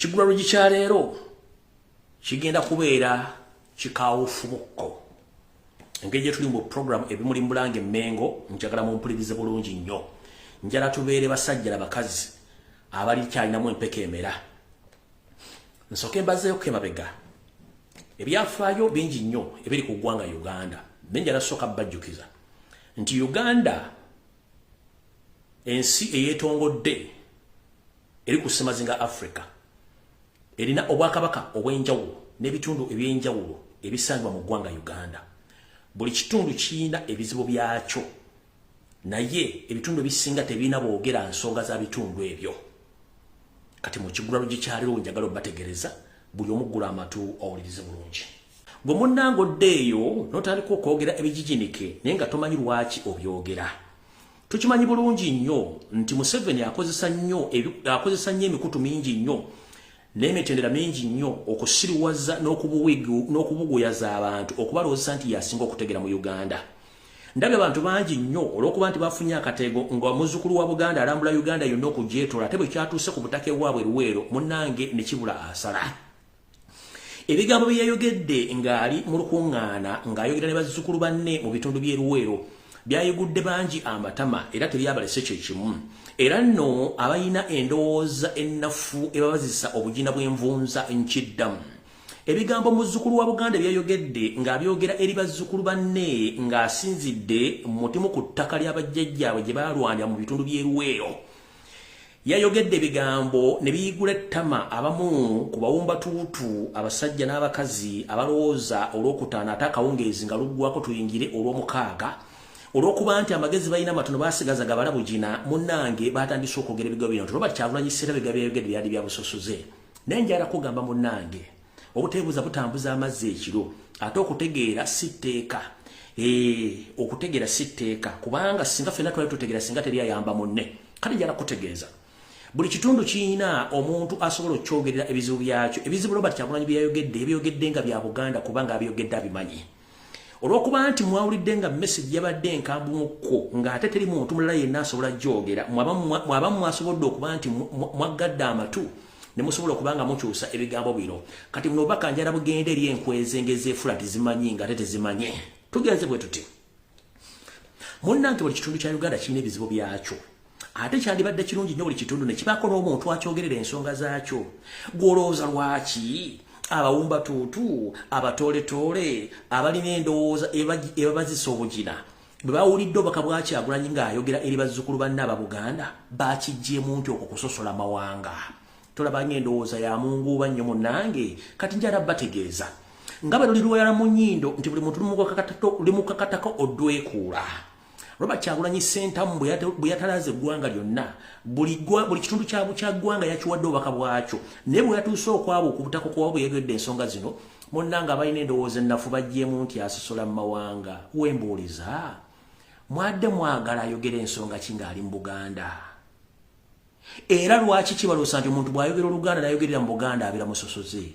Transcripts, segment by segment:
Ekigula lugi kya leero kigenda kubeera kikawufu bukko engeri gye tuli mu programu ebimuli mbulanga emmengo njagala mumpulirize bulungi nnyo njala tubeere basajja na bakazi abali kyalinamu empeka emera nsooke mbazeeko emabega ebyafaayo bingi nnyo ebiri ku ggwanga uganda naye njala sooka bajjukiza nti uganda ensi eyetongodde eri ku ssemazinga africa erina obwakabaka obw'enjawulo n'ebitundu eby'enjawulo ebisangibwa mu ggwanga uganda buli kitundu kirina ebizibu byakyo naye ebitundu ebisinga tebirina boogera nsonga za bitundu ebyo kati mu kigulalo gyekyaliwo njagala obategereza buli omuggula amatu owulirize bulungi Gwe munnange odde eyo n'otandika okwogera ebijijinike naye nga tomanyi lwaki obyogera. Tukimanyi bulungi nnyo nti Museveni akozesa nnyo akozesa nnyo emikutu mingi nnyo n'emitendera mingi nnyo okusiriwaza n'okubuguyaza abantu okubalowozesa nti yasinga okutegera mu Uganda. Ndabye abantu bangi nnyo olw'okuba nti bafunye akateego nga muzzukulu wa Buganda alambula Uganda yonna okugyetola ate bwe kyatuuse ku butaka ewaabwe Luweero munnange ne kibula asala. ebigambo bye yayogedde ng'ali mu lukuŋŋaana ng'ayogera ne bazzukulu banne mu bitundu by'e luweero byayigudde bangi amatama era tebyabalese kye kimu era nno abalina endowooza ennafu ebabazisa obugina bw'envunza nkiddamu ebigambo muzzukulu wa buganda byayogedde ng'abyogera eri bazzukulu banne ng'asinzidde mutimu ku ttaka ly'abajjajjaabwe gye baalwanira mu bitundu by'eruweero yayogedde ebigambo ne biyigula ettama abamu ku bawumbatuutu abasajja n'abakazi abalowooza olwokutaano ate akawungeezi nga luggwako tuyingire olw'omukaaga olw'okuba nti amagezi balina amatono basigaza gabala bugina munnange baatandise okwogera ebigo bino nti robert kyagulanyi sserabega byayogedde byali bya busosoze naye njala kugamba munnange obuteebuuza butambuza amazzi ekiro ate okutegeera si tteeka eh, okutegeera si tteeka kubanga singa fena twali tutegeera singa teri ayamba munne kati njala kutegeeza buli kitundu kirina omuntu asobola okukyogerera ebizibu byakyo ebizibu robert kyagulanyi byeyayogedde ebyogedde nga bya buganda kubanga abyogedde abimanyi olwokuba nti mwawulidde nga message yabadde enkambumukko ng'ate teri muntu mulala yenna asobola gyogera mwaba mwasobodde okuba nti mwaggadde amatu ne musobola okuba nga mukyusa ebigambo bino kati buno obubaka njala bugenda eri enkwezenge ezeefula tizimanyi ng'ate tezimanye tugenze bwe tuti munnange buli kitundu kya uganda kirina ebizibu byakyo ate kyandibadde kirungi nnyo buli kitundu ne kibaako n'omuntu akyogerera ensonga zaakyo gw'olowooza lwaki abawumba tuutu abatooletoole abalina endowooza ebabazisa obugina bwe bawulidde obubaka bwakyagulanyi ng'ayogera eri bazzukulu banne aba buganda bakijjeemu nti okwo kusosola mawanga tolaba ng'endowooza ya munguuba nnyo munnange kati njala bategeeza nga bwe luli lweyala mu nnyindo nti buli muntu limukakatako odwekuula Robert Kyagulanyi Sentamu bwe yatalaze eggwanga lyonna buli kitundu kya bukya ggwanga yakiwadde obubaka bwakyo naye bwe yatuuse okwabo okubutako kuba bwe yegedde ensonga zino munnanga abalina endowooza ennafu bagyemu nti asosola mu mawanga wembuuliza mwadde mwagala ayogera ensonga ki ng'ali mu Buganda era lwaki kibaloosa nti omuntu bw'ayogera oluganda n'ayogerera mu Buganda abira musosoze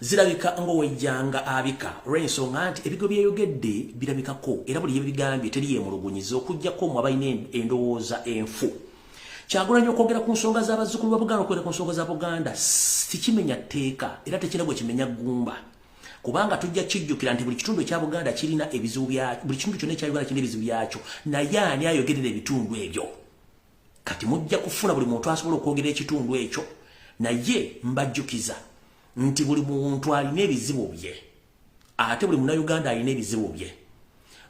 zirabika ng'owejjanga abika olw'ensonga nti ebigo byeyogedde birabikako era buli yebigambye teri yemulugunyiza okujjako mu abalina endowooza enfu kyagulanyi okwogera ku nsonga z'abazzukulu ba buganda okwogera ku nsonga za buganda sikimenya tteeka era tekina gwe kimenya ggumba kubanga tujja kijjukira nti buli kitundu ekya buganda kirina ebizibu bya buli kitundu kyonna ekya uganda kirina ebizibu byakyo naye ani ayogerera ebitundu ebyo kati mujja kufuna buli muntu asobola okwogera ekitundu ekyo naye mbajjukiza nti buli muntu alina ebizibu bye ate buli munauganda alina ebizibu bye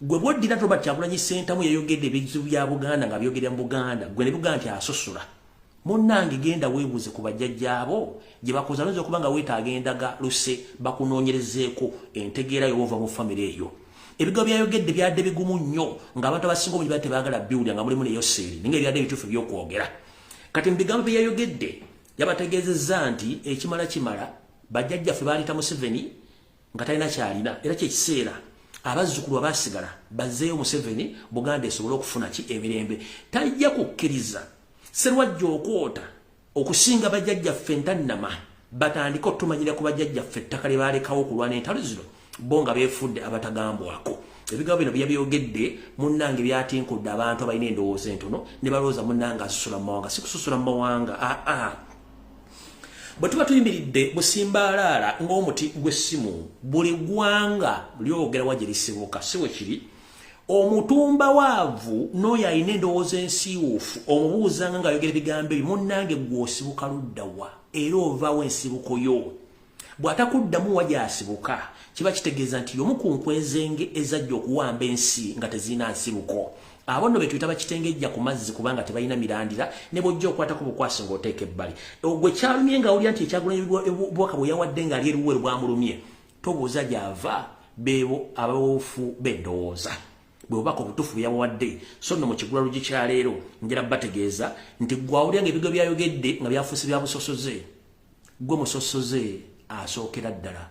gwe bwoddira nti robert kyagulanyi sentamu yayogedde ebizibu bya buganda nga byogerera mu buganda gwe ne buganda nti asosola munnange genda weebuuze ku bajjajjaabo gye bakoza noyinza okuba nga weetaaga endaga luse bakunoonyerezeeko entegeera yooba ova mu famire eyo ebigo byayogedde byadde bigumu nnyo ng'abantu abasinga obungi baa tebaagala biwulira nga mulimu neyo seeri ninga ebyadde ebituufu ebyokwogera kati mu bigambo bye yayogedde yabategeezezza nti ekimala kimala bajjajjaffe baaleeta museveni nga talina kyalina era kyekiseera abazzukulu abaasigala bazzeeyo museveni buganda esobole okufuna ki emirembe tajja kukkiriza serwajja okwota okusinga bajajjaffe ntannama batandika otumanyira ku bajajjaffe ettaka lye baalekawo okulwana entalo zino bo nga beefudde abatagambwako ebigambo bino byabyogedde munnange byatinkudde abantu abalina endowooza entono ne balowooza munnange asusula mu mawanga sikususula mu mawanga aa ah, ah. bwe tuba tuyimiridde busimbaalaala ng'omuti gw'essimu buli ggwanga lyogera wa gye lisibuka si we kiri omutumba waavu n'oyo alina endowooza ensiiwuufu omubuuzanga ng'ayogera ebigambo ebyo munnange gw'osibuka ludda wa era ovaawo ensibuko yo bw'atakuddamu wa gy'asibuka kiba kitegeeza nti y'omu ku nkwezenge ezajja okuwamba ensi nga tezirina nsibuko abo nno betuyita bakitengejja ku mazzi kubanga tebalina mirandira ne bwojja okwatako bukwasi ng'oteeka ebbali ogwe kyalumye ng'awulira nti ekyagula ebubaka bwe yawadde ng'ali eruweru bwamulumye tobuuza gyava beebo abawoofu bendowooza bwebubaka obutufu byabawadde so no mukigula lugi kyaleero njala bategeeza nti gwawulya nga ebigo byayogedde nga byafuusi byabusosoze gwe musosoze asookera ddala